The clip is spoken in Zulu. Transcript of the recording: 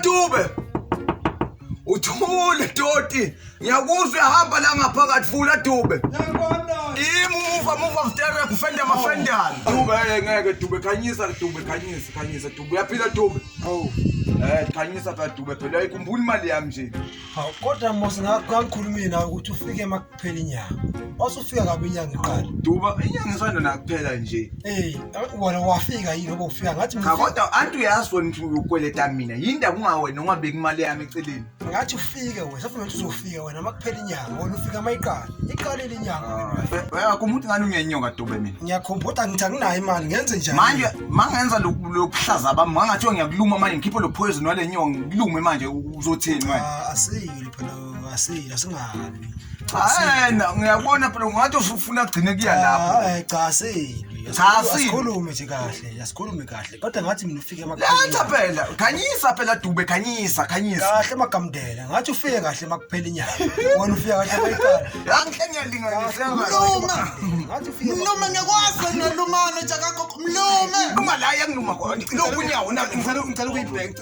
Dube uthule doti ngiyakuzwa ehamba la ngaphakathi vula dube imuva muva vtere kufenda mafendana oh. dube eh, ngeke dube khanyisa dube khanyisa khanyisa dube uyaphila dube oh. Eh khanyisa ka dube phela ayikhumbuli imali yami nje. Hawu kodwa mos ngakukhulumina ukuthi ufike kuphela inyanga wasufika kabi inyanga iqala duba inyanga isanda nakuphela nje eh wena wafika yini ngoba ufika ngathi mina kodwa anti uyazi wena ukuthi ukweleta mina yinda kungawena ungabeki imali yami eceleni ngathi ufike wena safuna ukuthi uzofika wena makuphela inyanga wena ufika mayiqala iqalile inyanga wena ah, kumuntu ngani ungenyoka dube mina ngiyakhumbula ngithi anginayo imali ngenze njani manje mangenza lokuhlaza bami ngangathi ngiyakuluma manje ngikhiphe lo poison wale nyonga ngikulume manje uzothini wena ah, asiyile phela Asi asingabi. Hayi na ngiyabona phela ungathi ufuna kugcine kuya lapho. Hayi cha seli. Cha seli. Sikhulume nje kahle, asikhulume kahle. Kodwa ngathi mina ufike emakhaya. Letha phela, khanyisa phela Dube, khanyisa, khanyisa. Kahle magamdela. Ngathi ufike kahle makuphela inyanga. Wena ufike kahle mayiqala. Yanhle ngiyalinganisa. Mluma. Ngathi ufike. Mluma ngekwazi nalumana nje akakho. Mlume. Uma la yangiluma khona. Lokhu unyawo na ngicela ngicela ukuyibhenga.